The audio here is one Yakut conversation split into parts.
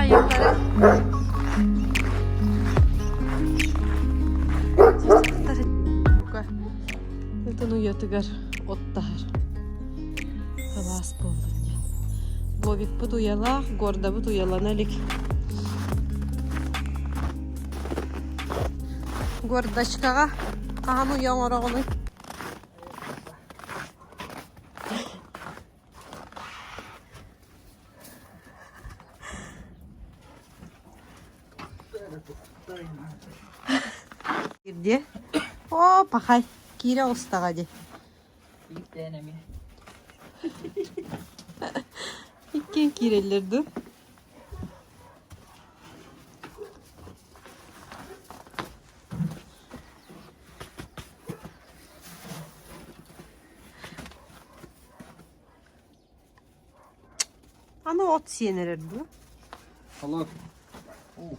Айыллара Ытын уйатыгар от таһар Кылаас буолбут дьэ Бобикпыт уйалаах, гордабыт уйалана илик Гордочкаҕа хаһан уйа оҥороҕунуй? Ирдиэ? Оо, пахай, киирэ оҕустаҕа дии. Биирдээн эмиэ. Иккиэн киирэллэр дуу? Аны от сиэн эрэр дуо Алло. Ух.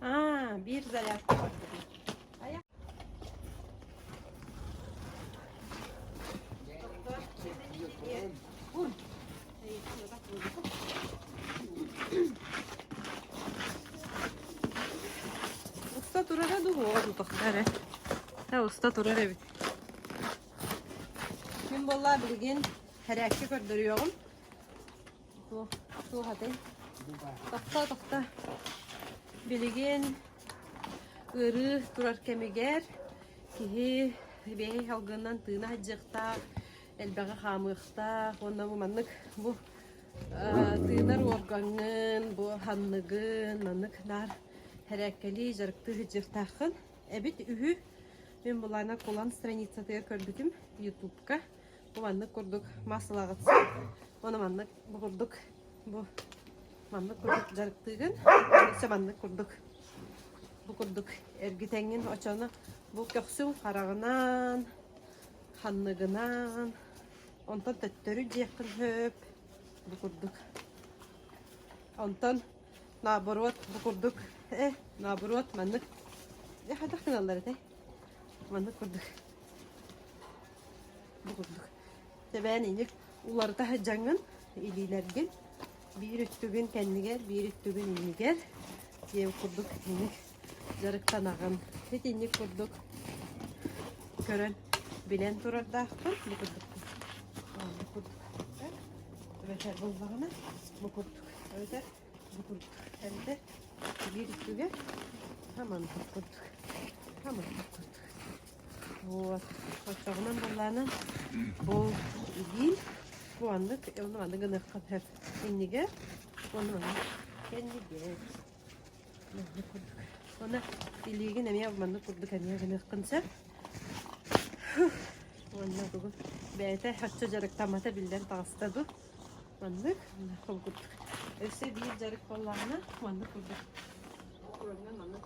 Аа, биир зарядка барбытым. Уста турара дуу, оҕо дутахтар эрэ. Та уста турар эбит. Ким буолла билигин тэрээккэ көрдөрүөҕүм. Туох туох атай? Тохто тохто. Билигин ыарыы турар кэмигэр киһи биэһи салгынынан тыына садьыахтаах, элбэҕи хаамыахтаах уонна бу маннык бу тыынар уоргаҥҥын, бу санныгын маннык наар тэрээккэлии дьарыктыы сылдьыахтааххын. Эбит үһү. Мин былаана кулан страницатыгар көрбүтүм ютубка. Бу маннык курдук массалаҕытсыт. Ону маннык бу курдук бу маннык курдук дьарыктыыгын. Өссө маннык курдук бу курдук эргитэҥҥин очону бу көхсүҥ хараҕынан, ханныгынан онтон төттөрү диэххин сөп бу курдук. Онтон Наоборот, бу курдук, э, наоборот, маннык. Дьэ, хайдах гыналлар этэй? Маннык курдук. Бу курдук. Тэбээн инник уларыта сыдьаҥын, илиилэргин, биир үттүгүн кэннигэр, биир үттүгүн иннигэр, диэн курдук инник Дьарыктанаҕын, итинник курдук көрөн, билэн турардаахпын, бу курдук бу курдук эбэтэр буллаҕына бу курдук эбэтэр бу курдук эбэтэр биир үтүгэ маннык курдук маннык курдук вот оччоҕунан буоллаҕына бу диин бу маннык ону аны гыныахха сөп иннигэр ону аны кэннигэр Уонна илиигин эмиэ маннык курдук эмиэ гыныаххын сөп. Уонна бүгүн бэйэтэ оччо дьарыктаммата биллэн таҕыста дуу. Маннык маннык курдук. Өссө биир дьарык буоллаҕына маннык курдук. Уонна маннык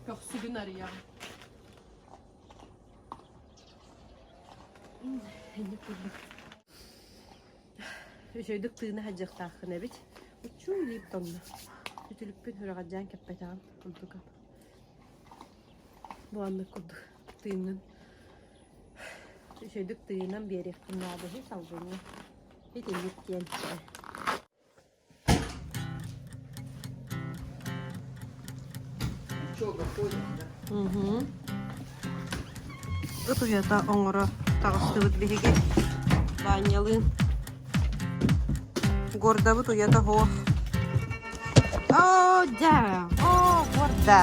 көхсүгүн арыйаҕын. Инник курдук. Үчүгэйдик тыына садьыахтааххын эбит. Уччуй дип тонно. Үтүлүкпүн сүрэҕэлдьээн кэппэтэҕим ордука. Бу оннук курдук тыыннын. Үчүгэйдик тыынан биэриэхпин наада үһү, салгыҥҥа. Итинник диэн ээ Ыт уйата оҥоро таҕыстыбыт биһиги Даанньалыын. Гордабыт уйата һуох. О, да! О, горда!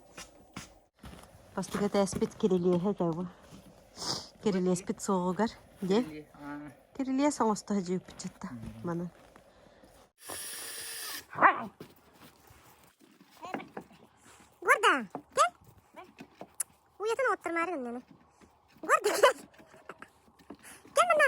Бастакы этээспит кирилиэһэ этэ бу. Кирилиэспит суоҕугар диэн кирилиэс оҥосто садьыйбыччата манан. Горда, кэл. Уйатын оттормаарын иннэни. Горда, кэл. Кэл манна.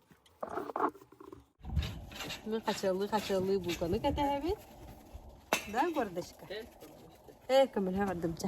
хачыаллыы-хачыаллыы булканы кэтэһэбит. Да, гордочка? Ээ, көмөлөһө бардым, чэ.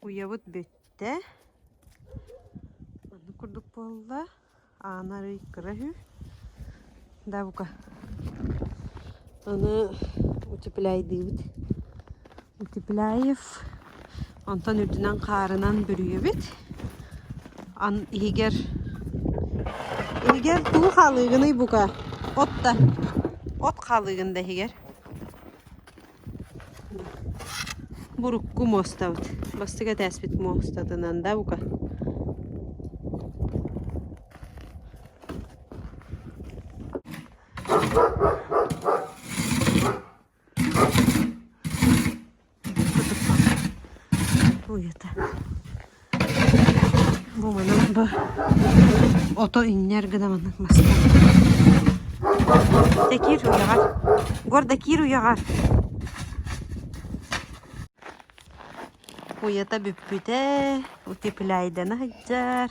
Уйабыт бүттэ. Оннук курдук буолла. Аана арый кыра үһү. Да бука. Аны утепляйдыыбыт. Утепляев. Онтон үрдүнэн хаарынан бүрүйэбит. Ан иһигэр иһигэр куу хаалыгыный бука? От да. От хаалыгын да иһигэр. Бурукку муостабыт. Бастакы этээспит муостатынан да бука. Уйата. Бу манан да ото иҥнэр гына маннык маска Дакир уйаҕар Гордакир уйаҕар уйата бүппүтэ утепляйдана сылдьар